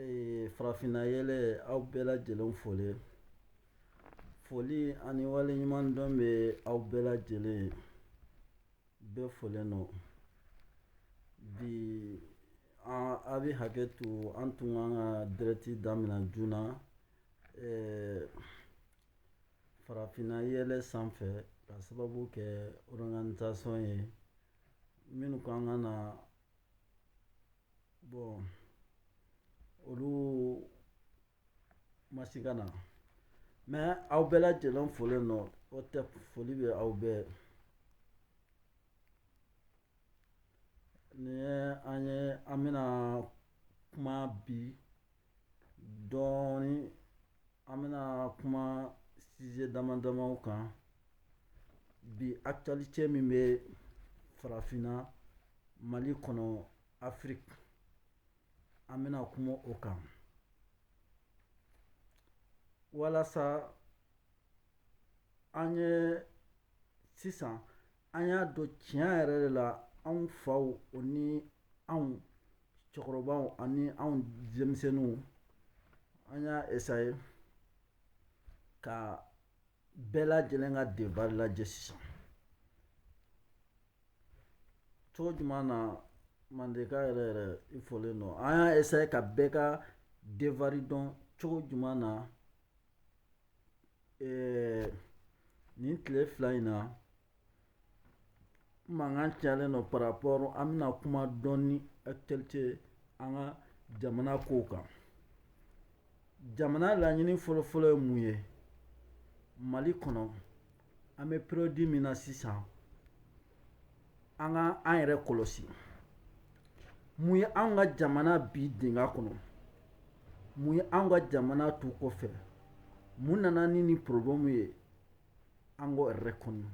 Ee farafinna yɛlɛ aw bɛɛ lajɛlen folen foli ani waleɲumandɔn bɛ aw bɛɛ lajɛlen bɛ folen nɔ bi a bɛ hakɛ to an tun kan ka dirɛkti daminɛ joona na ee farafinna yɛlɛ sanfɛ ka sababu kɛ ɔriganizasɔn ye minnu kan ka na Bɔn olu ma se ka na mɛ aw bɛɛ lajɛlen folen nɔ o tɛ foli bɛ aw bɛɛ ni an ye an bɛna kuma bi dɔɔnin an bɛna kuma size dama damaw kan bi akitiyalite min bɛ farafinna mali kɔnɔ afiriki an bɛna kuma o kan walasa an ye sisan an y'a dɔn tiɲɛ yɛrɛ de la anw faw o ni anw cɛkɔrɔbaw ani anw denmisɛnninw an y'a esaye ka bɛɛ lajɛlen ka devari lajɛ sisan cogo jumɛn na mandeka yɛrɛ yɛrɛ i folen don an y'a esaye ka bɛɛ ka devari dɔn cogo jumɛn na nin tile fila in na mankan calen nɔ parapɔri an bɛna kuma dɔɔnin akitiyalite an ka jamana kow kan jamana laɲini fɔlɔfɔlɔ ye mun ye mali kɔnɔ an bɛ periyɔdi min na sisan an ka an yɛrɛ kɔlɔsi mun ye an ka jamana bin dingɛ kɔnɔ mun ye an ka jamana to kɔfɛ mun nana ni nin pɔrɔbulɛmu ye an ka yɛrɛ kɔnɔ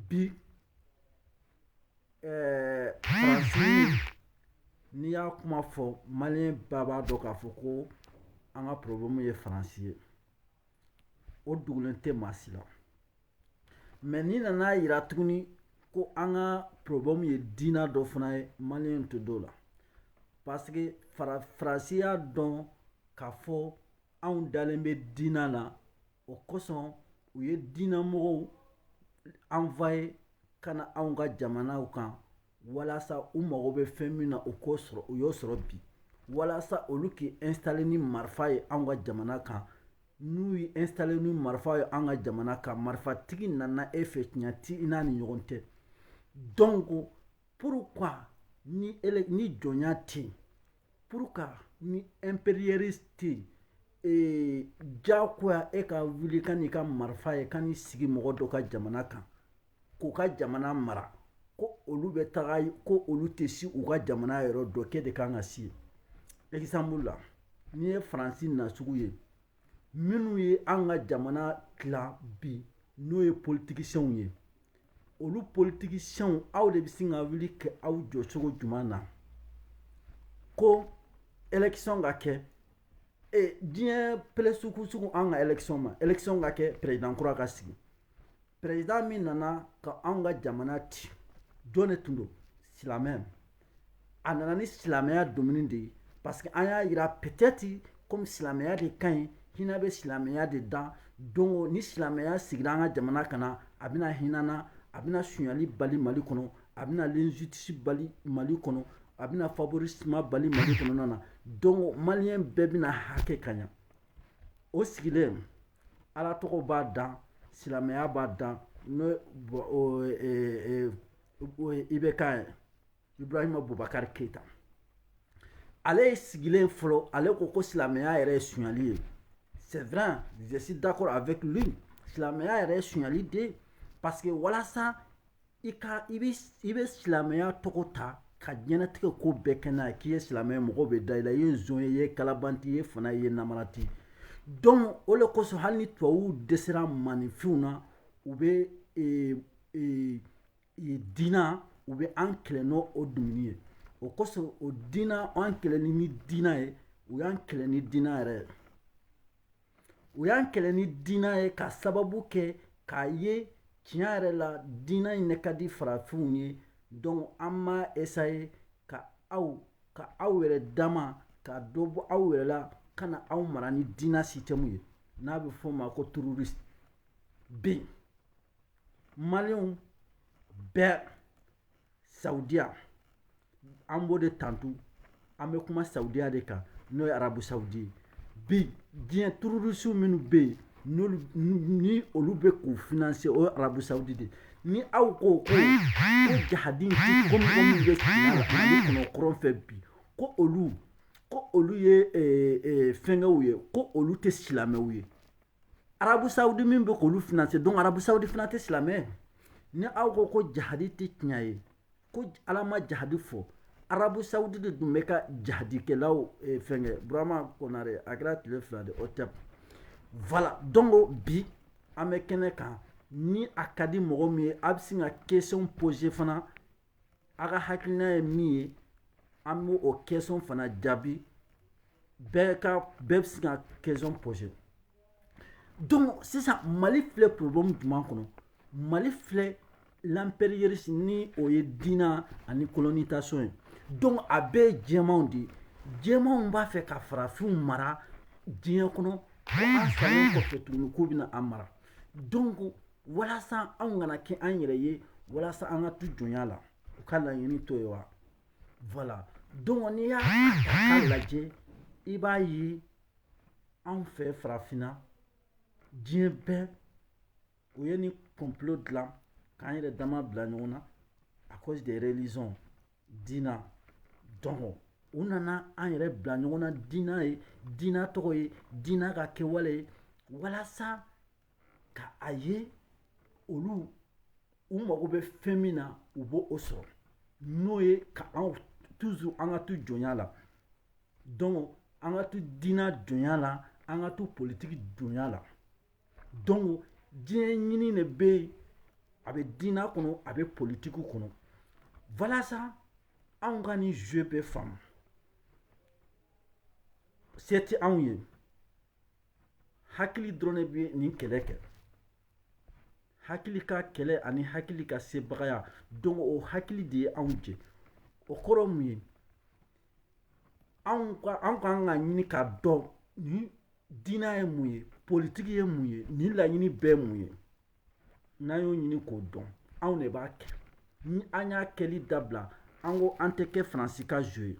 bi faransi, n'i y'a kuma fɔ maliyɛn bɛɛ b'a dɔn k'a fɔ ko an ka pɔrɔbulɛmu ye faransi ye o dogolen tɛ maa si la mɛ n'i nana a jira tuguni ko an ka pɔrɔbulɛmu ye diina dɔ fana ye maliyɛn tɛ d'o la parce que faransi y'a dɔn k'a fɔ anw dalen bɛ diina na o kosɔn u ye diinamɔgɔw anwoye ka na anw ka jamanaw kan walasa u mago bɛ fɛn min na u k'o sɔrɔ u y'o sɔrɔ bi walasa olu k'i installer ni marifa ye anw ka jamana kan n'u y'i installer ni marifa ye anw ka jamana kan marifatigi nana e fɛ tiɲɛ tɛ i n'a ni ɲɔgɔn cɛ donc pourquoi ni ele ni jɔnya tɛ yen pourquoi ni impérialiste tɛ yen ee, diyagoya e ka wuli ka n'i ka marifa ye ka n'i sigi mɔgɔ dɔ ka jamana kan k'u ka jamana mara ko olu bɛ taga ko olu tɛ si u ka jamana yɔrɔ dɔ k'e de kan ka si exemple la n'i ye faransi na sugu ye minnu ye an ka jamana tila bi n'o ye politiciens ye olu politiciens aw de bɛ sin ka wuli kɛ aw jɔ cogo jumɛn na ko élection ka kɛ diɲɛ pɛrɛn sugu sugu an ka élection ma élection ka kɛ président kura ka sigi président min nana ka anw ka jamana ci jɔn de tun don silamɛ a nana ni silamɛya domaine de ye parce que an y'a yira peut-être comme silamɛya de ka ɲi hinɛ bɛ silamɛya de da donc ni silamɛya sigira an ka jamana kan na a bɛna hina an na a bɛna sunyali bali mali kɔnɔ a bɛna l'injustice bali mali kɔnɔ a bɛna favorisme bali mali kɔnɔna na donc maliyɛn bɛɛ bɛna hakɛ ka ɲa o sigilen ala tɔgɔ b'a da silamɛya b'a da n'o IBK ye Ibrahima Boubacar Keita ale ye sigilen fɔlɔ ale ko ko silamɛya yɛrɛ ye sonyali ye c'est vrai je suis d'accord avec lui silamɛya yɛrɛ ye sonyali de parce que walasa i ka i bɛ silamɛya tɔgɔ ta ka diɲɛnatigɛ ko bɛɛ kɛ n'a ye k'i ye silamɛ ye mɔgɔw bɛ da i la i ye zon ye i ye kalabanti i ye fana i ye namarati donc o de kosɔn hali ni tubabuw dɛsɛra maninfinw na u bɛ ee, ee, ee, diina u bɛ an kɛlɛ n'o o domaine ye o kosɔn o diina an kɛlɛli ni diina ye u y'an kɛlɛ ni diina yɛrɛ ye u y'an kɛlɛ ni diinɛ ye ka sababu kɛ k'a ye tiɲɛ yɛrɛ la diinɛ in ne ka di farafinw ye donc an m'a essayer ka aw ka aw yɛrɛ dama ka dɔ bɔ aw yɛrɛ la ka na aw mara ni diinɛ système ye n'a bɛ fɔ o ma ko terroriste bi maliyɛnw bɛɛ saudiya an b'o de tantu an bɛ kuma saudiya de kan n'o ye arabu saudi ye bi diɲɛ terroriste minnu bɛ yen n'olu ni olu bɛ k'u financer o ye arabu saudi de ye ni aw ko ko ko jahadi ko mɔgɔ min bɛ tiɲɛ la mali kɔnɔ kɔrɔn fɛ bi ko olu ko olu ye fɛnkɛw ye ko olu tɛ silamɛw ye arabusawudi min bɛ k'olu financer donc arabusawudi fana tɛ silamɛ ni aw ko ko jahadi tɛ tiɲɛ ye ko ala ma jahadi fɔ arabu sawudi de dun bɛ ka jahadikɛlaw eh, fɛnkɛ burama konare a kɛra tile fila de otɛp voilà donc bi an bɛ kɛnɛ kan ni a ka di mɔgɔ min ye a bɛ se ka question poser fana A ka hakilina ye min ye an b' o question fana jaabi bɛɛ bɛ se ka question poser donc sisan mali filɛ problème jumɛn kɔnɔ mali filɛ l'impérialisme ni o ye diina ani colonisation ye donc a bɛɛ jɛmanw de ye jɛmanw b'a fɛ ka farafinw mara diɲɛ kɔnɔ ko an salen kɔfɛ tuguni k'u bɛna an mara donc walasa anw kana kɛ an yɛrɛ ye walasa an ka to jɔnya la u ka laɲini t'o ye wa voilà donc n'i y'a ta k'a lajɛ i b'a ye anw fɛ farafinna diɲɛ bɛɛ u ye nin complot dilan k'an yɛrɛ dama bila ɲɔgɔn na à cause des religions diina donc u nana an yɛrɛ bila ɲɔgɔn na diina ye diina tɔgɔ ye diina ka kɛwale ye walasa ka a ye olu u mago bɛ fɛn min na u b'o sɔrɔ n'o ye ka anw toujours an ka to jɔnya la donc an ka to diina jɔnya la an ka to politiki jɔnya la donc diɲɛ ɲini de bɛ yen a bɛ diina kɔnɔ a bɛ politiki kɔnɔ walasa anw ka nin jeu bɛɛ faamu se tɛ anw ye. hakili dɔrɔn de bɛ nin kɛlɛ kɛ hakili ka kɛlɛ ani hakili ka sebagaya donc o hakili de ye anw jɛ o kɔrɔ mun ye anw ka anw ka kan ka ɲini k'a dɔn ni diinɛ ye mun ye politiki ye mun ye nin laɲini bɛɛ mun ye n'an y'o ɲini k'o dɔn anw de b'a kɛ ni an y'a kɛli dabila an ko an tɛ kɛ faransi ka jɔn ye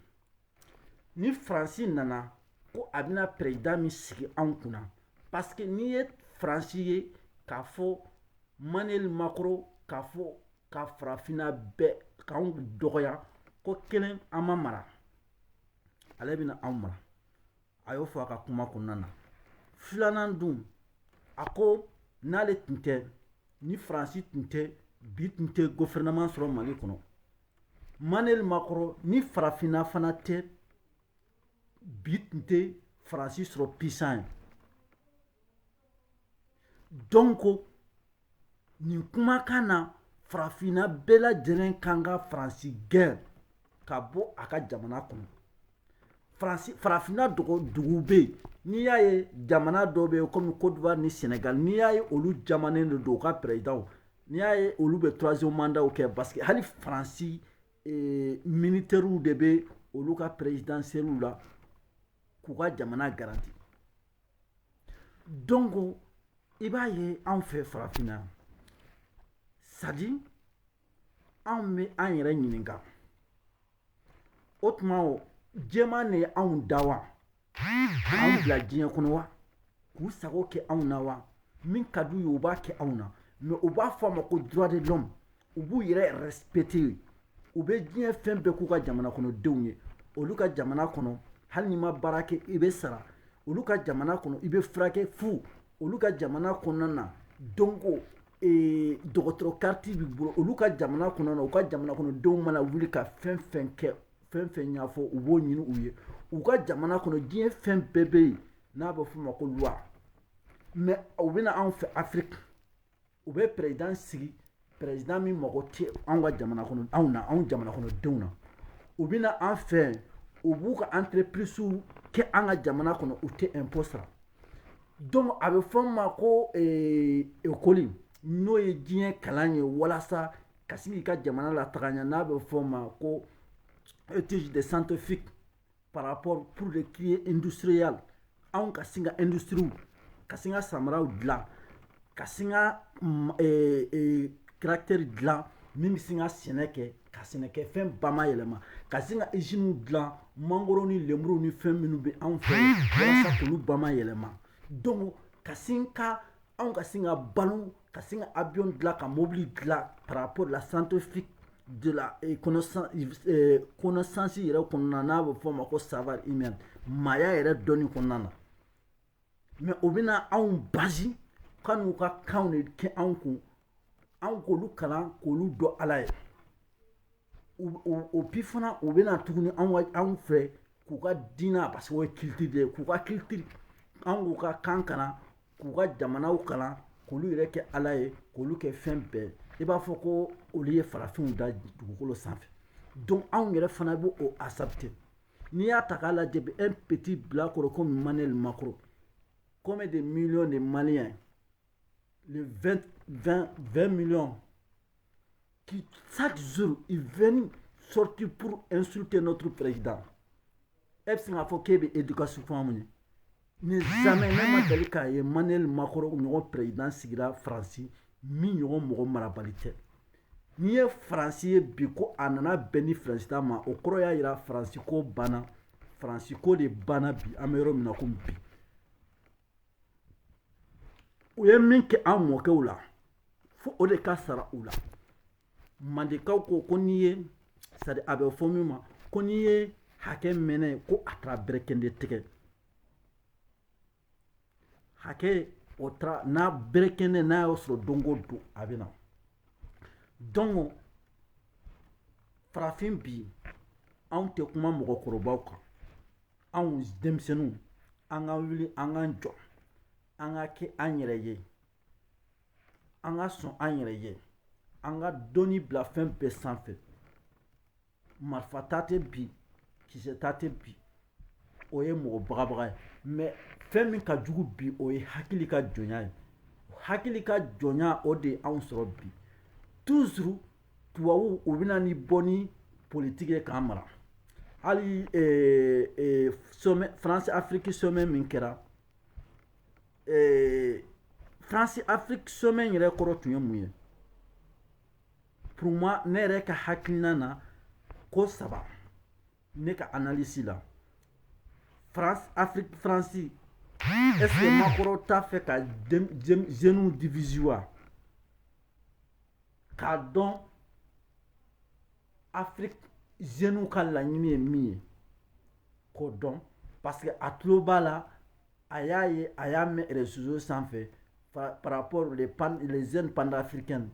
ni faransi nana ko a bɛna perezidan min sigi anw kunna parce que n'i ye faransi ye k'a fɔ manuel macron k'a fɔ ka farafinna bɛɛ k'anw dɔgɔya ko kelen an ma mara ale bɛna anw mara a y'o fɔ a ka kuma kɔnɔna na filanan dun a ko n'ale tun tɛ ni faransi tun tɛ bi tun tɛ gofɛrɛnaman sɔrɔ mali kɔnɔ manuel macron ni farafinna fana tɛ bi tun tɛ faransi sɔrɔ puissant ye donc nin kumakan na farafinna bɛɛ lajɛlen kan ka faransi gɛn ka bɔ a ka jamana kɔnɔ faransi farafinna dɔgɔ dugu bɛ yen n'i y'a ye jamana dɔw bɛ yen komi kodiwari ni sɛnɛgali n'i y'a ye olu jamanen de don u ka pɛrɛzidanw n'i y'a ye olu bɛ troisième mandatw kɛ parce que hali faransi ee, minitɛriw de bɛ olu ka pɛrɛzidansiyɛliw la k'u ka jamana garanti Donc i b'a ye anw fɛ farafinna c'est-à-dire anw bɛ an yɛrɛ ɲininka o tuma jɛman de ye anw da wa anw bila diɲɛ kɔnɔ wa k'u sago kɛ anw na wa min ka d'u ye u b'a kɛ anw na mais u b'a fɔ a ma ko droit de l'homme u b'u yɛrɛ respecter u bɛ diɲɛ fɛn bɛɛ k'u ka jamana kɔnɔdenw ye olu ka jamana kɔnɔ hali n'i ma baara kɛ i bɛ sara olu ka jamana kɔnɔ i bɛ furakɛ fu olu ka jamana kɔnɔna na donc ee dɔgɔtɔrɔ kariti b'i bolo olu ka jamana kɔnɔna na u ka jamana kɔnɔdenw mana wuli ka fɛn fɛn kɛ fɛn fɛn ɲɛfɔ u b'o ɲini u ye u ka jamana kɔnɔ diɲɛ fɛn bɛɛ bɛ yen n'a bɛ f'o ma ko loi mais u bɛ na anw fɛ afiriki u bɛ président sigi président min mago tɛ anw ka jamana kɔnɔ anw na anw jamana kɔnɔdenw na u bɛ na an fɛ u b'u ka entreprisew kɛ an ka jamana kɔnɔ u tɛ impôt sara donc a bɛ fɔ ma ko eh, ekɔli n'o ye diɲɛ kalan ye walasa ka se k'i ka jamana lataga ɲɛ n'a bɛ fɔ ma ko étude de scientifique par rapport pour le créer industriel anw ka sin ka industries ka sin ka samaraw dilan ka sin ka caractère dilan min bɛ sin ka sɛnɛ kɛ ka sɛnɛkɛfɛn bamayɛlɛma ka sin ka iziniw dilan mangoro ni lenburu ni fɛn minnu bɛ anw fɛ walasa k'olu bamayɛlɛma donc ka sin ka anw ka sin ka balo ka sin ka avion dilan ka mobili dilan par rapport la scientifique de la eh, connaissance eh, connaissance yɛrɛ kɔnɔna n'a bɛ fɔ o ma ko savoir humain maaya yɛrɛ dɔnni kɔnɔna na mais u bɛna anw basi ka n'u ka kanw de kɛ anw kun anw k'olu kalan k'olu dɔn ala ye et puis fana u bɛ na tuguni anw fɛ k'u ka diinɛ parce que culture de ye k'u ka culture an k'u ka kan kalan k'u ka jamanaw kalan k'olu yɛrɛ kɛ ala ye k'olu kɛ fɛn bɛɛ i b'a fɔ ko olu ye farafinw da dugukolo sanfɛ donc anw yɛrɛ fana b'o accepter n'i y'a ta k'a lajɛ bi un petit bilakoro comme Macron combien de millions de Maliens ye les 20, 20, 20 millions qui, chaque jour, ils viennent sortir pour insulter notre président. e bɛ sin k'a fɔ k'e bɛ éducation fɔ anw ye ne jamais, ne ma deli k'a ye Manuel Macron ɲɔgɔn président sigira faransi, min ɲɔgɔn mɔgɔ marabali tɛ n'i ye faransi ye bi ko a nana bɛn ni faransi ta ma o kɔrɔ y'a yira faransi ko banna faransi ko de banna bi an bɛ yɔrɔ min na komi bi u ye min kɛ an mɔkɛw la fo o de ka sara u la mandekaw ko ko n'i ye sadi a bɛ fɔ min ma ko n'i ye hakɛ mɛnnen ye ko a taara berekɛndɛ tigɛ hakɛ o taara n'a berekɛndɛ n'a y'a sɔrɔ don o don a bɛ na dɔnko farafin bi anw tɛ kuma mɔgɔkɔrɔbaw kan anw denmisɛnninw an ka wuli an k'an jɔ an ka kɛ an yɛrɛ ye an ka sɔn an yɛrɛ ye an ka dɔnni bila fɛn bɛɛ sanfɛ marifa ta tɛ bi kisɛ ta tɛ bi o ye mɔgɔ bagabaga ye mɛ fɛn min ka jugu bi o ye hakili ka jɔnya ye hakili ka jɔnya o de ye anw sɔrɔ bi tuzuru tubabuw u bɛ na ni bɔn ni politiki ye k'an mara hali somɛ faransi afiriki somɛ min kɛra faransi afiriki somɛ yɛrɛ kɔrɔ tun ye mun ye pour moi ne yɛrɛ ka hakilina na ko saba ne ka analisi la faransi afiriki faransi ɛseke makɔrɔ t'a fɛ ka zenuw divizi wa k'a dɔn afiriki zeniw ka laɲini ye min ye k'o dɔn parce que a tulo b'a la a y'a ye a y'a mɛn réseaux sanfɛ par rapport les, pan, les jeunes panafricaines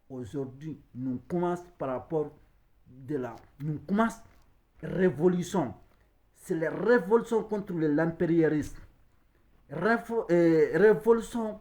aujourd'hui nous commence par rapport de la nous commence révolution c'est la révolution contre l'impérialisme euh, révolution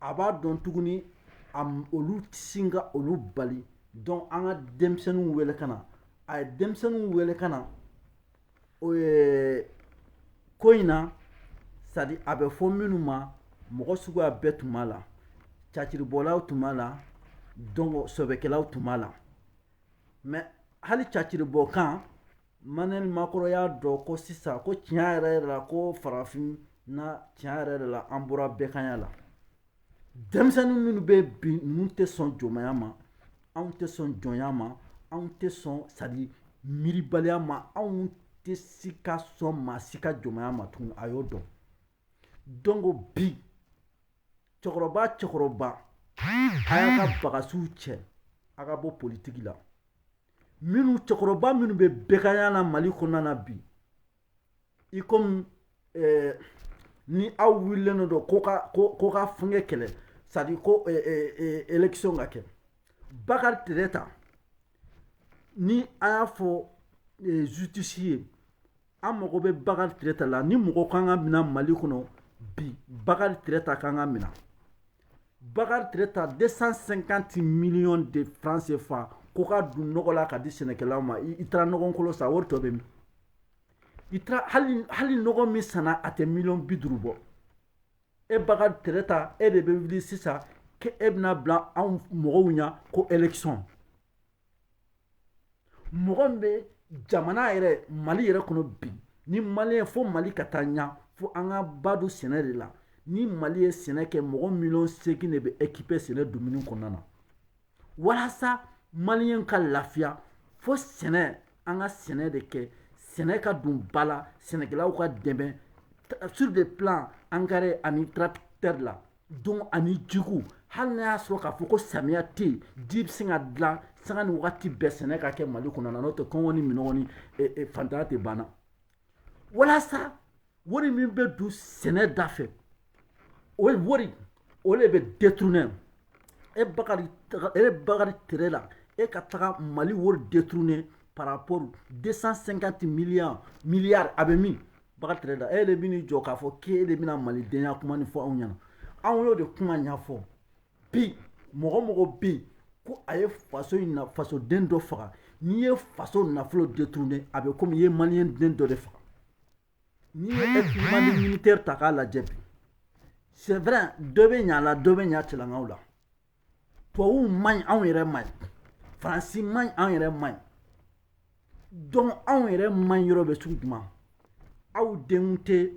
a b'a dɔn tuguni a m- olu tɛ sin ka olu bali dɔnko an ka denmisɛnninw wele ka na a ye denmisɛnninw wele ka na ko in na sadi a bɛ fɔ minnu ma mɔgɔ suguya bɛɛ tun b'a la caciribɔlaw tun b'a la dɔnko sɛbɛkɛlaw tun b'a la mɛ hali caciribɔ kan Emmanuel Macron y'a dɔn ko sisan ko tiɲɛ yɛrɛ yɛrɛ la ko farafin na tiɲɛ yɛrɛ yɛrɛ la an bɔra bɛganya la denmisɛnnin minnu bɛ bi ninnu tɛ sɔn jɔnmaya ma anw tɛ sɔn jɔnya ma anw tɛ sɔn c'est-à-dire miiribaliya ma anw tɛ se ka sɔn maa si ka jɔnmaya ma tugun a y'o dɔn donc bi cɛkɔrɔba cɛkɔrɔba a y'a ka bagasiw cɛ a ka bɔ politigi la minnu cɛkɔrɔba minnu bɛ bɛganya na mali kɔnɔna na bi i komi eh, ni aw wulilen don ko ka ko ko ka fɛngɛ kɛlɛ c'est-à-dire ko eh, eh, eh, élection ka kɛ bakari tireta ni an y'a fɔ eh, justice ye an mago bɛ bakari tireta la ni mɔgɔ kan ka minɛ mali kɔnɔ bi bakari tireta kan ka minɛ bakari tireta 250 millions de francs CFA ko ka don nɔgɔ la ka di sɛnɛkɛlaw ma i taara nɔgɔ kolon san wari tɔ bɛ min i taara hali hali nɔgɔ min sanna a tɛ miliyɔn bi duuru bɔ e bakari tireta e de bɛ wuli sisan k'e bɛna bila anw mɔgɔw ɲɛ ko élection mɔgɔ min bɛ jamana yɛrɛ mali yɛrɛ kɔnɔ bi ni mali ye fo mali ka taa ɲa fo an ka ba don sɛnɛ de la ni mali ye sɛnɛ kɛ mɔgɔ miliyɔn seegin de bɛ ekipe sɛnɛ dumuni kɔnɔna na walasa maliyɛn ka lafiya fo sɛnɛ an ka sɛnɛ de kɛ sɛnɛ ka don ba la sɛnɛkɛlaw ka dɛmɛ sur le plan engrais ani tracteur la donc ani jiko hali n'a y'a sɔrɔ k'a fɔ ko samiya tɛ yen ji bɛ se ka dilan sanga ni wagati bɛɛ sɛnɛ ka kɛ mali kɔnɔ na n'o tɛ kɔngɔ ni minɔgɔ ni eh, eh, fantanya tɛ banna walasa wari min bɛ don sɛnɛ da fɛ o wari o de bɛ détourner e bakari e bakari tireta e ka taga mali wari détourner par rapport 250 milliards milliards a bɛ min Bakari Tireta e de bɛn'i jɔ k'a fɔ k'e de bɛna malidenya kuma nin fɔ anw ɲɛna anw y'o de kuma ɲɛfɔ bi mɔgɔ mɔgɔ bɛ yen ko a ye faso in na fasoden dɔ faga n'i ye faso nafolo détourné a bɛ komi i ye maliyɛn den dɔ de faga n'i ye équipement militaire ta k'a lajɛ bi c'est vrai dɔ bɛ ɲa la dɔ bɛ ɲa cɛlankaw la tubabuw man ɲi anw yɛrɛ man ɲi faransi man ɲi anw yɛrɛ man ɲi donc anw yɛrɛ man ɲi yɔrɔ bɛ sugu juma aw denw tɛ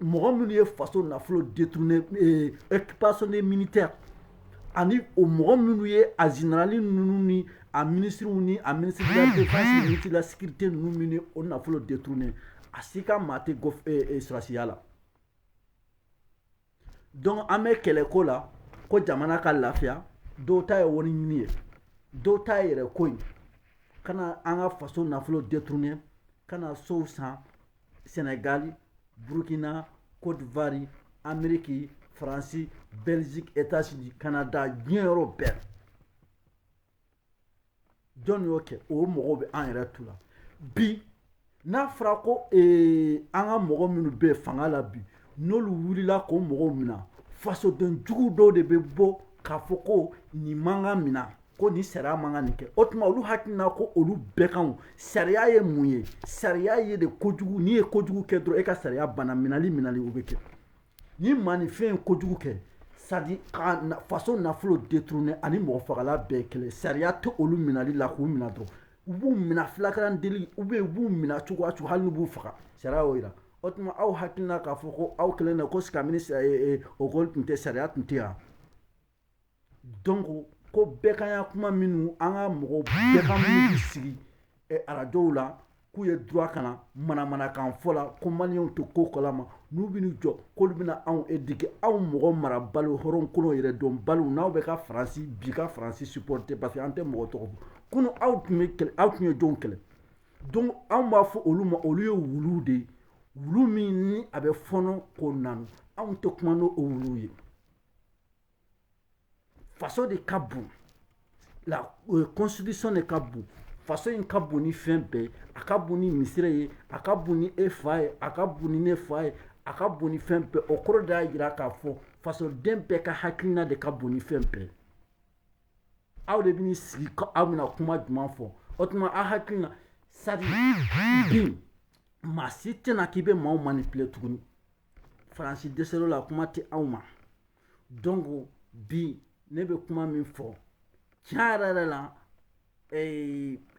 mɔgɔ minnu ye faso nafolo détourné eh, équipement des militaires ani o mɔgɔ minnu ye a générali ninnu ni a ministres ni a ministre de la défense ni ministre de la sécurité ninnu minnu ye o nafolo détourné a si ka maa tɛ eh, eh, sɔrɔdasiya la dɔnku an bɛ kɛlɛko la ko jamana ka lafiya dɔw ta ye wari ɲini ye dɔw ta ye yɛrɛ ko ye ka na an ka faso nafolo détourner ka na sow san sɛnɛgali burukina kodiwari ameriki faransi bɛliziki etazini kanada diɲɛ yɔrɔ bɛɛ jɔn y'o kɛ o mɔgɔw bɛ an yɛrɛ tu la bi n'a fɔra ko ee, an ka mɔgɔ minnu bɛ fanga la bi n'olu wulila k'o mɔgɔw minɛ fasoden jugu dɔw de bɛ bɔ k'a fɔ ko nin man ka minɛ ko nin sariya man ka nin kɛ o tuma olu hakilina ko olu bɛɛ kan sariya ye mun ye sariya ye de kojugu n'i ye kojugu kɛ dɔrɔn e ka sariya banna minɛli minɛli o bɛ kɛ Ni maaninfin ye kojugu kɛ c'est-à-dire ka faso nafolo détourner ani mɔgɔ fagala bɛɛ kelen sariya tɛ olu minɛli la k'u minɛ dɔrɔn u b'u minɛ flagrant délit u bɛ b'u minɛ cogo o cogo hali n'u b'u faga sariya y'o jira o tuma aw hakilina k'a fɔ ko aw kɛlen ko silamɛ o tun tɛ sariya tun tɛ yan donc ko bɛɛkanya kuma minnu an ka mɔgɔw bɛɛkan minnu bɛ sigi arajow la k'u ye du ka na manamanakan fɔ la ko maliyɛnw tɛ ko kalama n'u bɛ jɔ k'olu bɛna anw éduquer anw mɔgɔ marabaliw hɔrɔnkolon yɛrɛdɔnbaliw n'aw bɛ ka faransi bi ka faransi siporote parce que an tɛ mɔgɔ tɔgɔ fɔ kunun aw tun bɛ aw tun ye jɔnw kɛlɛ donc anw b'a fɔ olu ma olu ye wuluw de ye wulu min ni a bɛ fɔɔnɔ k'o nɔn anw tɛ kuma n'o wuluw ye faso de ka bon la constitution de ka bon faso in ka bon ni fɛn bɛɛ a ka bon ni misiri ye a ka bon ni e fa ye a ka bon ni ne fa ye a ka bon ni fɛn bɛɛ o kɔrɔ de y'a jira k'a fɔ fasoden bɛɛ ka hakilina de ka bon ni fɛn bɛɛ aw de bɛ sigi aw bɛna kuma jumɛn fɔ o tuma aw hakilina c'est-à-dire bi maa si tɛna k'i bɛ maaw manipuler tuguni faransi dɛsɛl'o la kuma tɛ aw ma donc bi ne bɛ kuma min fɔ tiɲɛ yɛrɛ yɛrɛ la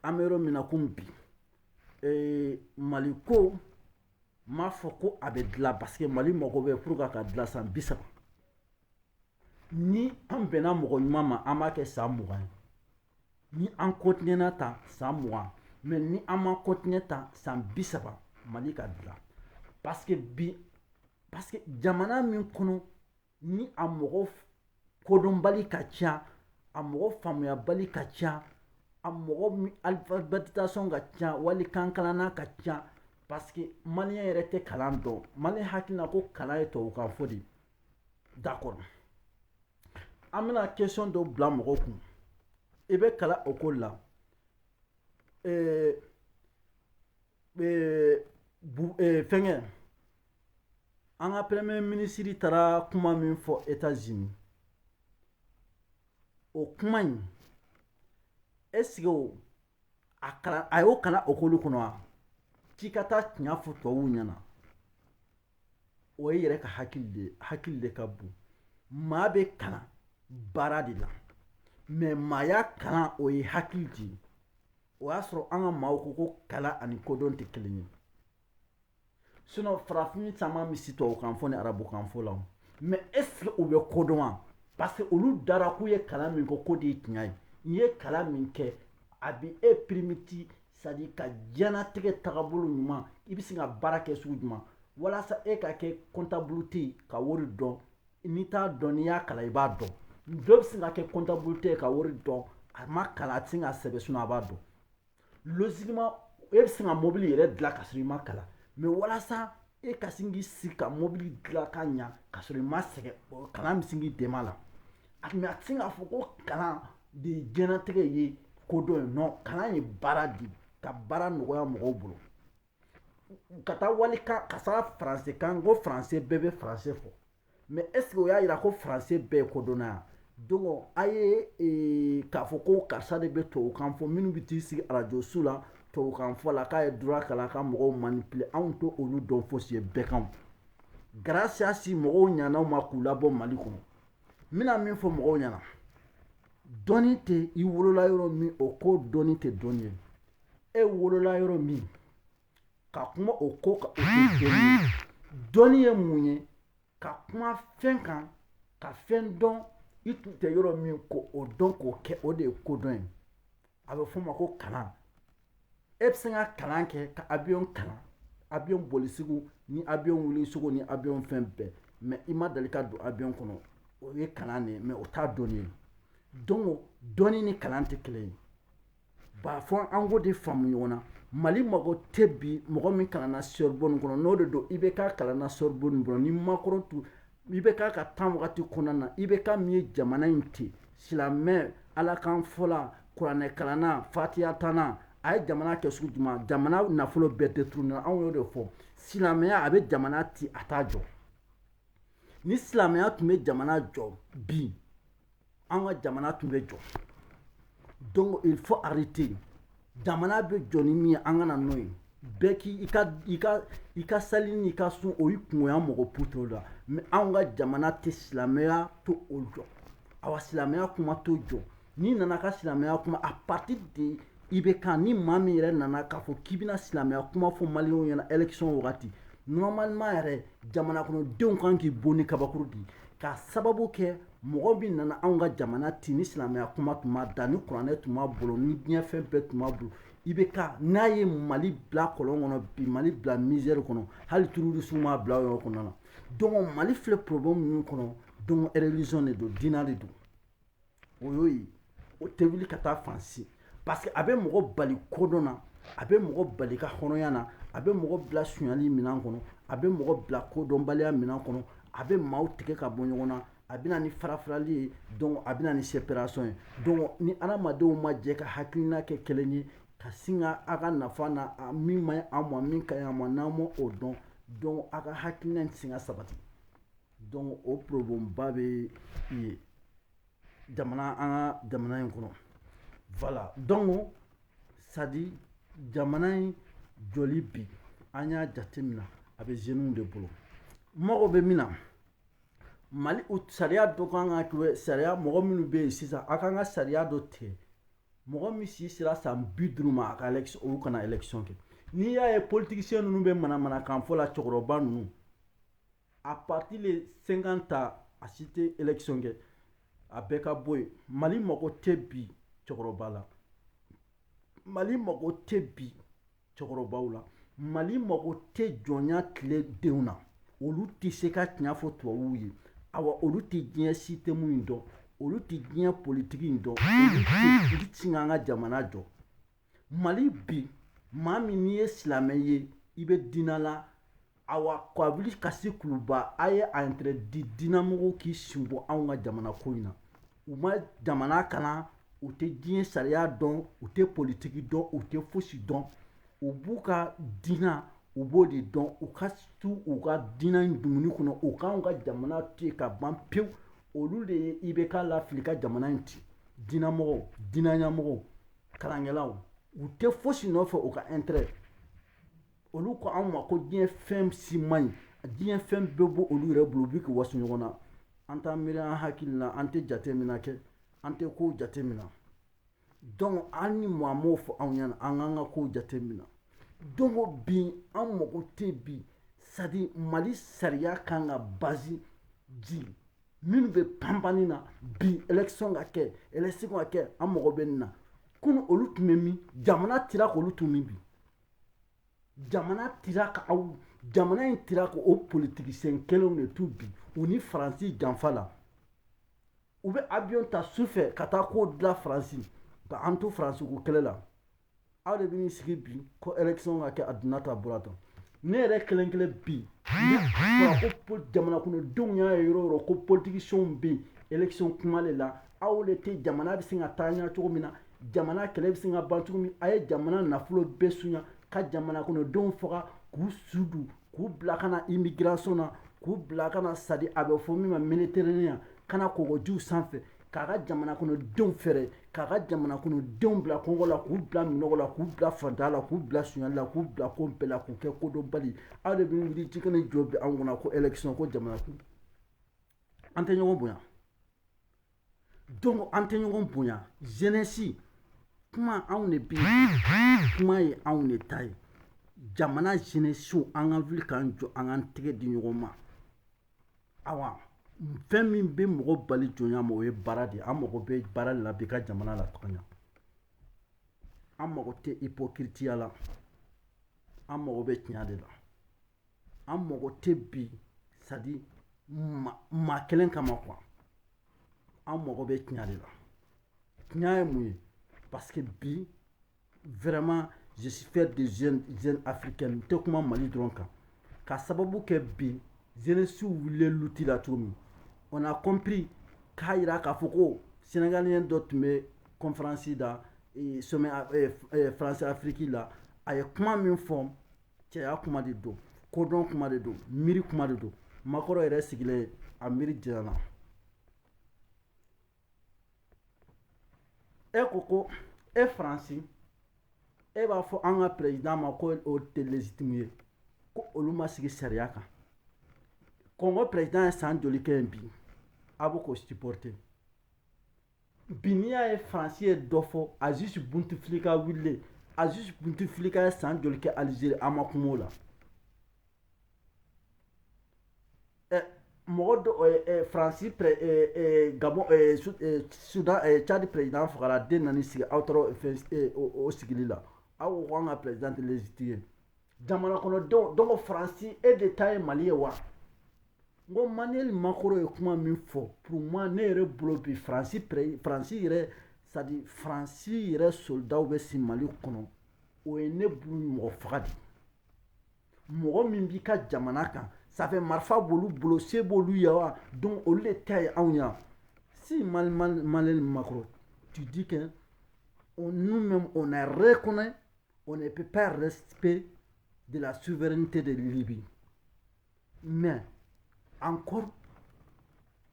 an bɛ yɔrɔ min na komi bi mali ko n m'a fɔ ko a bɛ dilan parce que mali mago bɛ pour qu'a ka dilan san bi saba ni an bɛnna mɔgɔ ɲuman ma an b'a kɛ san mugan ye ni an kɔntinyɛna tan san mugan mɛ ni an ma kɔntinyɛ tan san bi saba mali ka dilan paseke bi paseke jamana min kɔnɔ ni a mɔgɔ kodɔnbali ka ca a mɔgɔ faamuyabali ka ca a mɔgɔ alifabɛtisasɔn ka ca wali kankalanna ka ca paseke maliyɛn yɛrɛ tɛ kalan dɔn maliyɛn hakili la ko kalan ye tubabukan fɔ de ye D'accord an bɛna question dɔ bila mɔgɔw kun i bɛ kalan école la fɛnkɛ an ka premier ministre taara kuma min fɔ États-Unis o kuma in est ce que a a y'o kalan école kɔnɔ wa k'i ka taa tiɲɛ fɔ tubabuw ɲɛna o ye yɛrɛ ka hakili de ye hakili de ka bon maa bɛ kalan baara de la mais maaya kalan o ye hakili de ye o y'a sɔrɔ an ka maaw ko ko kalan ani kodɔn tɛ kelen ye sinon farafin caman bɛ si tubabukan fɔ ni arabukan fɔ la mais est ce que u bɛ kodɔn wa parce que olu dara k'u ye kalan min kɛ k'o de ye tiɲɛ ye n'i ye kalan min kɛ a bɛ e pirimiti c'est à dire ka diɲɛnatigɛ tagabolo ɲuman i bɛ se ka baara kɛ sugu jumɛn walasa e ka kɛ comptable ye ka wari dɔn n'i t'a dɔn n'i y'a kalan i b'a dɔn dɔ bɛ se ka kɛ comptable ye ka wari dɔn a ma kalan a tɛ se ka sɛbɛn sinon a b'a dɔn logiquement e bɛ se ka mobili yɛrɛ dilan ka sɔrɔ i ma kalan mais walasa e ka se k'i sigi ka mobili dilan ka ɲa ka sɔrɔ i ma sɛgɛn kalan bɛ se k'i dɛmɛ a la a tun mais a tɛ se k'a fɔ ko kalan de ye diɲɛnatigɛ ye kodɔn ye non kalan ye baara de ka baara nɔgɔya mɔgɔw bolo ka taa wali ka taa français kan ko français bɛɛ bɛ français fɔ mais est ce que o y'a jira ko français bɛɛ ye kodɔnna yan donc a ye e, k'a fɔ ko karisa de bɛ tubabu kan fɔ minnu bɛ t'i sigi arajo su la tubabu kan fɔ la k'a ye droit kalan ka mɔgɔw manipuler anw t'olu dɔn fosi ye bɛɛ kan garasiya si mɔgɔw ɲanaw ma k'u labɔ mali kɔnɔ n bɛna min fɔ mɔgɔw ɲɛna dɔnni tɛ i wolola yɔrɔ min o ko dɔnni tɛ dɔnni ye e wolola yɔrɔ min ka kuma o ko kan o tɛ dɔnni ye dɔnni ye mun ye ka kuma fɛn kan ka fɛn dɔn i tun tɛ yɔrɔ min ko o dɔn k'o kɛ o de ye kodɔn ye a bɛ f'o ma ko kalan e bɛ se ka kalan kɛ ka abiyon kalan abiyon boli sugu ni abiyon wuli sugu ni abiyon fɛn bɛɛ mais i ma deli ka don abiyon kɔnɔ o ye kalan de ye mais o t'a dɔnni ye donc dɔnni ni kalan tɛ kelen ye Ba fɔ an k'o de faamu ɲɔgɔn na mali mago tɛ bi mɔgɔ min kalanna Sorbonne kɔnɔ n'o de don IBK kalanna Sorbonne kɔnɔ ni Macron tun IBK ka temps wagati kɔnɔna na IBK min ye jamana in ten silamɛ ala kan fɔla kuranɛ kalanna fatiya tana a ye jamana kɛ sugu jumɛn jamana nafolo bɛɛ détourné anw de fɔ silamɛya a bɛ jamana ci a t'a jɔ ni silamɛya tun bɛ jamana jɔ bi an ka jamana tun bɛ jɔ donc il faut arrêter jamana bɛ jɔ ni min ye an ka na n'o ye bɛɛ k'i i ka i ka i ka sali n'i ka sun o y'i kungoya mɔgɔ puto la mais anw ka jamana tɛ silamɛya t'o jɔ awa silamɛya kuma t'o jɔ n'i nana ka silamɛya kuma à partir de IBK ni maa min yɛrɛ nana k'a fɔ k'i bɛna silamɛya kuma fɔ maliyɛnw ɲɛna élection wagati normalement yɛrɛ jamana kɔnɔdenw kan k'i bon ni kabakuru de ye k'a sababu kɛ mɔgɔ min nana anw ka jamana ti ni silamɛya kuma tun b'a da ni kuranɛ tun b'a bolo ni diɲɛ fɛn bɛɛ tun b'a bolo IBK n'a ye mali bila kɔlɔn kɔnɔ bi mali bila misère kɔnɔ hali terrorisme m'a bila o yɔrɔ kɔnɔna na donc mali filɛ problème min kɔnɔ donc religion de don diina de don o y'o ye o tɛ wuli ka taa fan si parce que a bɛ mɔgɔ bali kodɔn na a bɛ mɔgɔ bali ka hɔrɔnya na a bɛ mɔgɔ bila sonyali minɛn kɔnɔ a bɛ mɔgɔ bila kodɔnbaliya minɛn kɔnɔ a bɛ maaw tigɛ ka bɔ ɲɔgɔn na a bɛ na ni farafarali ye donc a bɛ na ni séparation ye donc ni adamadenw ma jɛ ka hakilina kɛ kelen ye ka sin ka a ka nafa na a min man ɲi an ma min ka ɲi an ma n'an ma o dɔn donc a ka hakilina in tɛ se ka sabati donc o problème ba bɛ yen jamana an ka jamana in kɔnɔ voilà donc c'est-à-dire jamana in jɔli bi an y'a jateminɛ a bɛ jeunes de bolo mago bɛ min na mali sariya dɔ kan ka kɛ sariya mɔgɔ minnu bɛ yen sisan a kan ka sariya dɔ tigɛ mɔgɔ min si sera san bi duuru ma a ka élection olu kana élection kɛ n'i y'a ye politicien ninnu bɛ manamanakan fɔ la cɛkɔrɔba ninnu à partir de cinquante ans a si tɛ élection kɛ a bɛɛ ka bɔ yen mali mago tɛ bi cɛkɔrɔba la mali mago tɛ bi cɛkɔrɔbaw la mali mago tɛ jɔnya tile denw na olu tɛ se ka tiɲɛ fɔ tubabuw ye awa olu tɛ diɲɛ système in dɔn olu tɛ diɲɛ politiki in dɔn u tɛ se k'an ka jamana jɔ mali bi maa min n'i ye silamɛ ye i bɛ diinɛ la awa ka wuli ka sigi kuluba a ye a intérêt de diinɛmɔgɔw k'i sen bɔ anw ka jamana ko in na u ma jamana kalan u tɛ diɲɛ sariya dɔn u tɛ politiki dɔn u tɛ fosi dɔn u b'u ka diinɛ u b'o de dɔn u ka to u ka diinɛ in dumuni kɔnɔ u k'anw ka jamana to yen ka ban pewu olu de ye IBK lafili ka jamana in ci diinɛmɔgɔw diinɛɲɛmɔgɔw kalankɛlaw u tɛ fosi nɔfɛ u ka intérêt olu ko anw ma ko diɲɛ fɛn si man ɲi diɲɛ fɛn bɛɛ b'olu yɛrɛ bolo u bɛ k'u waso ɲɔgɔn na an t'an miiri an hakili la an tɛ jateminɛ kɛ an tɛ kow jateminɛ donc an ni maa m'o fɔ anw ɲɛna an k'an ka kow jateminɛ donc o bi an mago tɛ bi c'est-à-dire mali sariya kan ka base di minnu bɛ panpanni na bi election ka kɛ election ka kɛ an mago bɛ nin na kunu olu tun bɛ min jamana tira k'olu tun min bi jamana tira ka aw jamana in tira ka o politicien kelenw de tun bi u ni faransi janfa la u bɛ avion ta su fɛ ka taa ko dilan faransi ka an to faransi ko kɛlɛ la aw de bɛ n'i sigi bi ko election ka kɛ a donna tan bɔra tan ne yɛrɛ kelen kelen bi ne ko jamana kɔnɔ denw y'a ye yɔrɔ o yɔrɔ ko politiciens bɛ yen election kuma de la aw de tɛ jamana bɛ se ka taa ɲɛ cogo min na jamana kɛlɛ bɛ se ka ban cogo min a ye jamana nafolo bɛɛ sunya ka jamana kɔnɔ denw faga k'u su don k'u bila ka na immigration na k'u bila ka na c'est-à-dire a bɛ fɔ min ma Méditerranée ka na kɔgɔjiw sanfɛ k'a ka jamana kɔnɔ denw feere k'a ka jamana kɔnɔ denw bila kɔngɔ la k'u bila minnɔgɔ la k'u bila fantanya la k'u bila suɲɛli la k'u bila ko bɛɛ la k'u kɛ kodɔnbali aw de bɛ wuli bi ka n'i jɔ bi anw kunna ko élection ko jamana kun an tɛ ɲɔgɔn bonya donc an tɛ ɲɔgɔn bonya jeunesse kuma anw de bɛ kuma ye anw de ta ye jamana jeunesse an ka wuli k'an jɔ an k'an tɛgɛ di ɲɔgɔn ma awa fɛn min bɛ mɔgɔ bali jɔnya ma o ye baara de ye an mago bɛ baara de la bi ka jamana lataga ɲɛ an mago tɛ ipokiritiya la an mago bɛ tiɲɛ de la an mago tɛ bi c'est-à-dire maa kelen kama quoi an mago bɛ tiɲɛ de la tiɲɛ ye mun ye parce que bi vraiment je suis fier des jeunes africains n tɛ kuma mali dɔrɔn kan ka sababu kɛ bi jeunesse wulilen luti la cogo min on a compris k'a jira k'a fɔ ko sénégalien dɔ tun bɛ conférence la sommet France Afrique la a ye kuma min fɔ cɛya kuma de don kodɔn kuma de don miiri kuma de don Macron yɛrɛ sigilen a miiri janyana e ko ko e faransi e b'a fɔ an ka perezidan ma ko o tɛ lezitimu ye ko olu ma sigi sariya kan Kongo perezidan ye san joli kɛ yen bi a bɛ k'o sipɔrite bi n'i y'a ye faransi ye dɔ fɔ Aziz Bouteflika wulilen Aziz Bouteflika ye san joli kɛ alizeri a ma kuma o la eh, mɔgɔ dɔ eh, eh, faransi Gabon sudan cadi perezidan fagara den nana sigi aw taara yen o sigili la aw ko an ka perezidan tɛ lezitimu ye jamana kɔnɔdenw donc faransi e de ta ye mali ye wa n ko Emmanuel Macron ye kuma min fɔ pour moi ne yɛrɛ bolo bi faransi faransi yɛrɛ c'est-à-dire faransi yɛrɛ soldaw bɛ si mali kɔnɔ o ye ne bolo mɔgɔ faga de mɔgɔ min b'i ka jamana kan ça fait marifa b'olu bolo se b'olu ye wa donc olu de ta ye anw ye si Emmanuel Macron tu dis que on nous-mêmes on a reconnu on ne peut pas respect de la souveraineté de Libye mais encore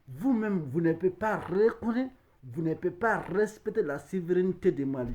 vous même vous ne pouvez pas reconnaître vous ne pouvez pas respecter la souveraineté de Mali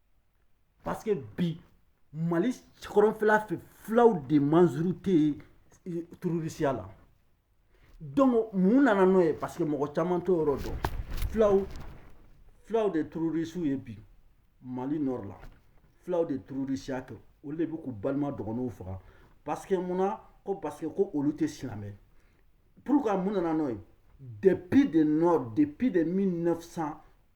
parce que bi mali kɔrɔnfɛla fɛ fulaw de majorité eh, tururisiya la donc mun nana n'o ye parce que mɔgɔ caman t'o yɔrɔ dɔn fulaw fulaw de tururisiw ye bi mali nord la fulaw de tururisiya kɛ olu de bɛ k'u balima dɔgɔnɔw faga parce que mun na ko parce que ko olu tɛ silamɛ pourquoi mun nana n'o ye depuis de nord depuis de 1900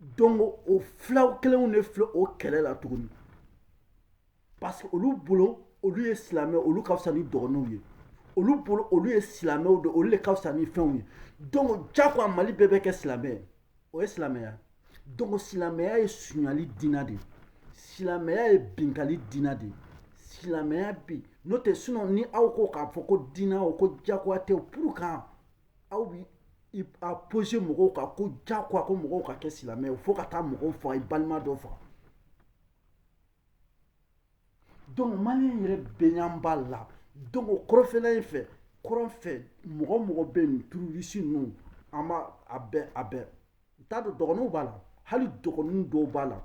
donc o fulaw kelenw de filɛ o kɛlɛ la tuguni parce que olu bolo olu ye silamɛ olu ka fisa ni dɔgɔnɔw ye olu bolo olu ye silamɛw de olu de ka fisa ni fɛnw ye donc jagoya mali bɛɛ bɛ kɛ silamɛ ye o ye silamɛya donc silamɛya ye sunyali dina de ye silamɛya ye binkali dina de ye silamɛya bi n'o tɛ sinon ni aw ko k'a fɔ ko dina o ko jagoya tɛ pourquoi aw bi a imposer mɔgɔw kan ko jagoya ko mɔgɔw ka kɛ silamɛ fo ka taa mɔgɔw faga i balima dɔ faga donc maliyɛn yɛrɛ bɛɛ nyɛ b'a la donc o kɔrɔnfɛla in fɛ kɔrɔn fɛ mɔgɔ mɔgɔ bɛ nin tururisi ninnu an b'a a bɛɛ a bɛɛ n t'a dɔn dɔgɔnɔw b'a la hali dɔgɔnɔw dɔw b'a la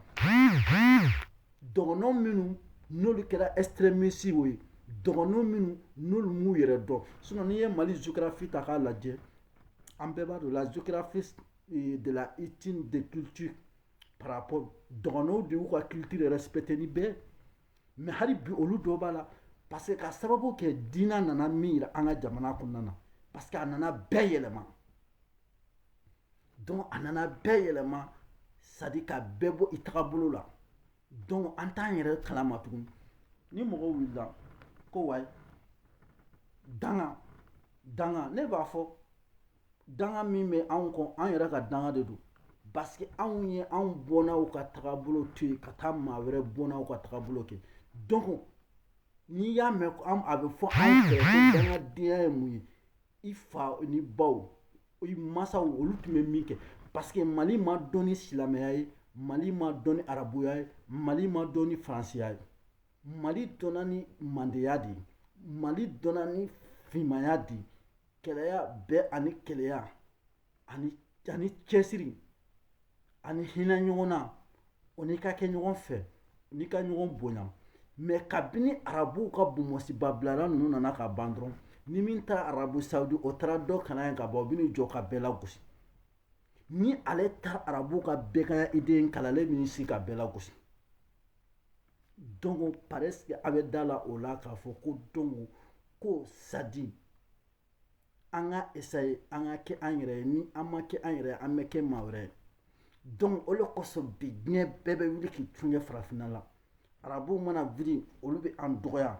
dɔgɔnɔw minnu n'olu kɛra extrémistew ye dɔgɔnɔw minnu n'olu m'u yɛrɛ dɔn sinon n'i ye mali géographie ta k'a lajɛ an bɛɛ b'a dɔn la géographie eh, de la ethnie de culture par rapport dɔgɔnɔw de y'u ka culture respecter ni bɛɛ mais hali bi olu dɔ b'a la parce que ka sababu kɛ diina nana min yira an ka jamana kɔnɔna na parce que a nana bɛɛ yɛlɛma donc a nana bɛɛ yɛlɛma c'est-à-dire ka bɛɛ bɔ i tagabolo la donc an t'an yɛrɛ kalama tuguni ni mɔgɔ wulila ko wayi danga danga ne b'a fɔ danga min bɛ anw kɔ an yɛrɛ ka danga de don parce que anw ye anw bɔnnaw ka tagabolo to yen ka taa maa wɛrɛ bɔnnaw ka tagabolo kɛ donc n'i y'a mɛn a bɛ fɔ anw fɛ ko dangadenya ye mun ye i fa ni baw i masaw olu tun bɛ min kɛ parce que mali ma dɔn ni silamɛya ye mali ma dɔn ni arabuya ye mali ma dɔn ni faransiya ye mali dɔnna ni mandeya de ye mali dɔnna ni fimaya de ye kelenya bɛn ani kelenya ani cɛsiri ani hinɛ ɲɔgɔn na o n'i ka kɛ ɲɔgɔn fɛ n'i ka ɲɔgɔn bonya mais kabini arabuw ka bonbonsiba bilala ninnu nana ka ban dɔrɔn ni min taara arabu sawudi o taara dɔ kalan yen ka bɔ o bɛ n'i jɔ ka bɛɛ lagosi ni ale taara arabuw ka bɛganya idée kalan ale bɛ n'i sigi ka bɛɛ lagosi Donc parce que a bɛ da la o la k'a fɔ ko donc ko sadi an ka essayer an ka kɛ an yɛrɛ ni an ma kɛ an yɛrɛ an bɛ kɛ maa wɛrɛ ye donc o de kosɔn bi diɲɛ bɛɛ bɛ wuli k'i tun ye farafinna la arabu mana wuli olu bɛ an dɔgɔya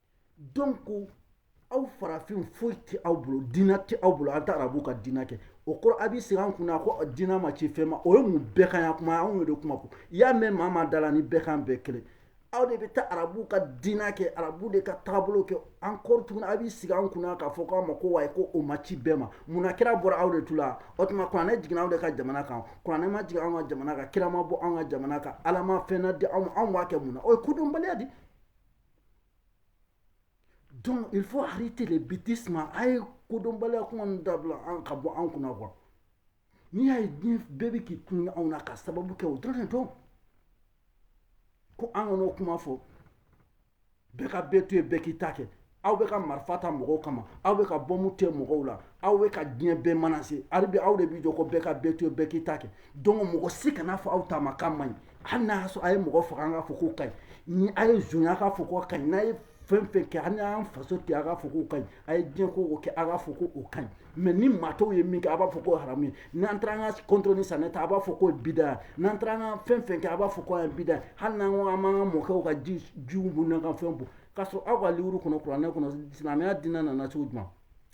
donc aw farafin foyi tɛ aw bolo diinɛ tɛ aw bolo an taa arabu ka diinɛ kɛ o kɔrɔ a b'i sigi an kunna ko diinɛ ma ci fɛn ma o ye mun bɛganya kuma anw yɛrɛ de kuma ko i y'a mɛn maa maa da la ni bɛgan bɛɛ kelen aw de bɛ taa arabu ka diinɛ kɛ arabu de ka taabolo kɛ encore tuguni a b'i sigi an kunna k'a fɔ k'aw ma ko wa ko o ma ci bɛɛ ma munna kira bɔra aw de tu la o tuma kuranɛ jiginna aw de ka jamana kan kuranɛ ma jigin anw ka jamana kan kira ma bɔ anw ka jamana kan ala ma fɛn na di anw ma anw b'a kɛ mun na o ye kodɔnbaliya di Donc, il faut arrêter les bêtises. A ye kodɔnbaliya kuma ninnu dabila aw ka bɔ an kunna quoi n'i y'a ye diɲɛ bɛɛ bɛ k'i kun anw na k'a sababu kɛ o dɔrɔn de don ko an kan'o kuma fɔ bɛɛ ka bɛɛ to yen bɛɛ k'i ta kɛ aw bɛ ka marifa ta mɔgɔw kama aw bɛ ka bɔmu tɛ mɔgɔw la aw bɛ ka diɲɛ bɛɛ menacer hali bi aw de b'i jɔ ko bɛɛ ka bɛɛ to yen bɛɛ k'i ta kɛ donc mɔgɔ si kana fɔ aw ta ma k'a man ɲi hali n'a y'a sɔrɔ a ye mɔgɔ faga an k'a fɔ k'o ka ɲi ni a ye zonya k'a fɔ k'o ka ɲi n'a ye fɛn fɛn kɛ hali n'an faso tɛ a k'a fɔ k'o ka ɲi a ye diɲɛ ko o kɛ a k'a fɔ ko o ka ɲi mais ni maa tɔw ye min kɛ a b'a fɔ k'o haramu ye n'an taara an ka kɔntɔrɔn ni sanɛ ta a b'a fɔ k'o ye bida ye n'an taara an ka fɛn fɛn kɛ a b'a fɔ k'o ye bida ye hali n'an ko an b'an ka mɔkɛw ka ji jiw bɔn n'an ka fɛn bɔn k'a sɔrɔ aw ka liwuru kɔnɔ kuranɛ kɔnɔ silamɛya diinɛ nana cogo jumɛn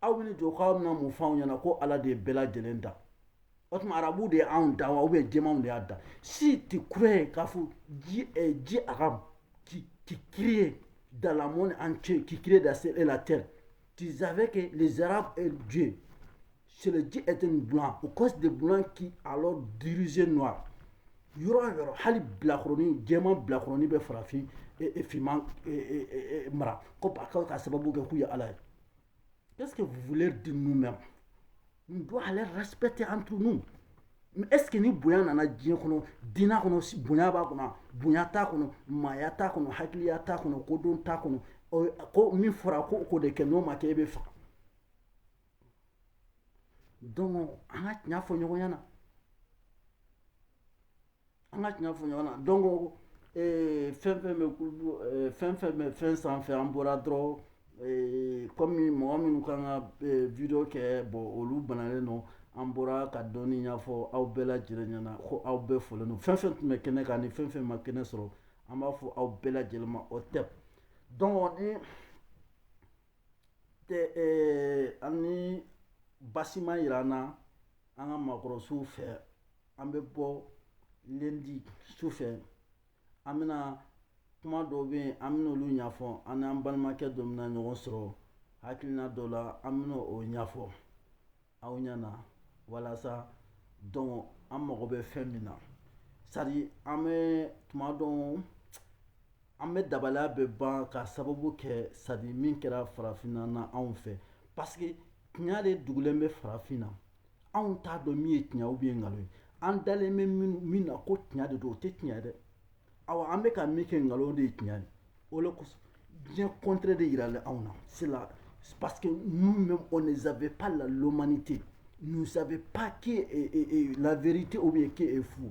aw bɛ n'i jɔ k'aw bɛna mun f'anw ɲɛna ko ala de ye bɛɛ lajɛlen dan o tuma arabu de ye anw dan wa ou bien jɛmanw de y'an dan si tu crois k'a fɔ Dieu eh, Dieu arabe qui, qui crée dans le monde entier, qui crée dans ciel et la terre. Tu savais que les Arabes et Dieu, c'est le Dieu était blanc, au cause des blancs qui alors dirigeaient noir. yɔrɔ yɔrɔ hali bilakoroni jɛman bilakoroni bɛ farafin finman mara ko k'a sababu kɛ k'u ye ala ye Qu'est-ce que vous voulez dire nous-mêmes On doit aller respecter entre nous. Mais est-ce que ni bonya nana diɲɛ kɔnɔ dina kɔnɔ bonya b'a kɔnɔ bonya t'a kɔnɔ maaya t'a kɔnɔ hakiliya t'a kɔnɔ kodɔn t'a kɔnɔ ko min fɔra ko k'o de kɛ n'o ma kɛ e bɛ faga donc an ka tiɲɛ fɔ ɲɔgɔn ɲɛna an ka tiɲɛ fɔ ɲɔgɔn na donc fɛn fɛn bɛ fɛn fɛn bɛ fɛn sanfɛ an bɔra dɔrɔn kɔmi mɔgɔ minnu kan ka video kɛ bon olu banalen don an bɔra ka dɔɔni ɲɛfɔ aw bɛɛ lajɛlen ɲɛna ko aw bɛɛ folen don fɛn fɛn tun bɛ kɛnɛ kan ni fɛn fɛn ma kɛnɛ sɔrɔ an b'a fɔ aw bɛɛ lajɛlen ma o tɛ donc ni ani basi ma jira an na an ka maakɔrɔsow fɛ an bɛ bɔ lundi su fɛ an bɛna kuma dɔw bɛ yen an bɛna olu ɲɛfɔ an n'an balimakɛ dɔ bɛna ɲɔgɔn sɔrɔ hakilina dɔ la an bɛna o ɲɛfɔ aw ɲɛna walasa donc an mago bɛ fɛn min na c'est à dire an bɛ tuma dɔn An bɛ dabalaya bɛ ban ka sababu kɛ c'est à dire min kɛra farafinna na anw fɛ parce que tiɲɛ de dugulen bɛ farafin na anw t'a dɔn min ye tiɲɛ ou bien nkalon ye an dalen bɛ min na ko tiɲɛ de don o tɛ tiɲɛ dɛ awa an bɛ ka min kɛ nkalon de ye tiɲɛ de o de kosɔn diɲɛ contraire de jiralen anw na c'est là parce que nous-mêmes on ne savait pas la l'humanité nous ne savons pas que la vérité ou bien qui est faux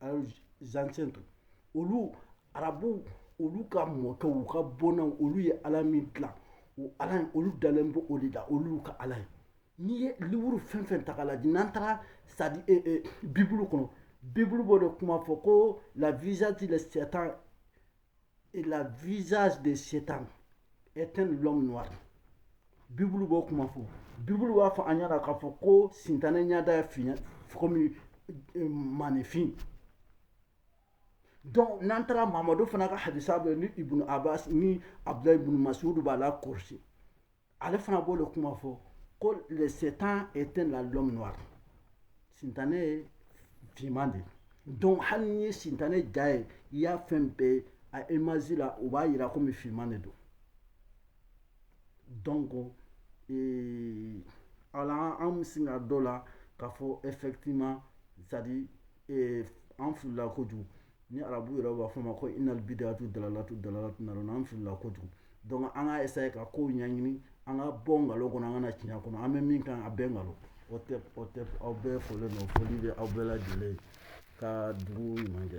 an ancêtres olu arabu olu ka mɔkɛ u ka bɔnna olu ye ala min dilan o ala ye olu dalen bɛ o de la olu ka ala ye n'i ye liburu fɛn fɛn ta k'a lajɛ n'an taara c'est à dire eh, eh, bibulu kɔnɔ bibulu b'o de kuma fɔ ko la visage de satan et la visage de Satan est un l'homme noir bibulu b'o kuma fɔ bibulu b'a fɔ an ɲɛna k'a fɔ ko sintane ɲɛda ye fin ye komi eh, manifin donc n'an taara mamadu fana ka hadisa bɛ ni ibunu abbas ni abdulayi ibunu masudu b'a la kɔlɔsi ale fana b'o de kuma fɔ ko le satan est un l'homme noir sintane ye finman de ye donc hali n'i ye sintane ja ye i y'a fɛn bɛɛ ye a image la u b'a yira komi finman de don donc ee, ala an bɛ se ka d'o la k'a fɔ effectivement c'est à dire ee, an filila kojugu ni arabu yɛrɛ b'a fɔ ma ko inal bidatu dalalatu dalalatu na an filila kojugu donc an ka essayer ka kow ɲɛɲini an ka bɔ nkalon kɔnɔ an ka na tiɲɛ kɔnɔ an bɛ min kan a bɛɛ nkalon o tɛ o tɛ aw bɛɛ folen don foli bɛ aw bɛɛ lajɛlen ka dugu ɲuman kɛ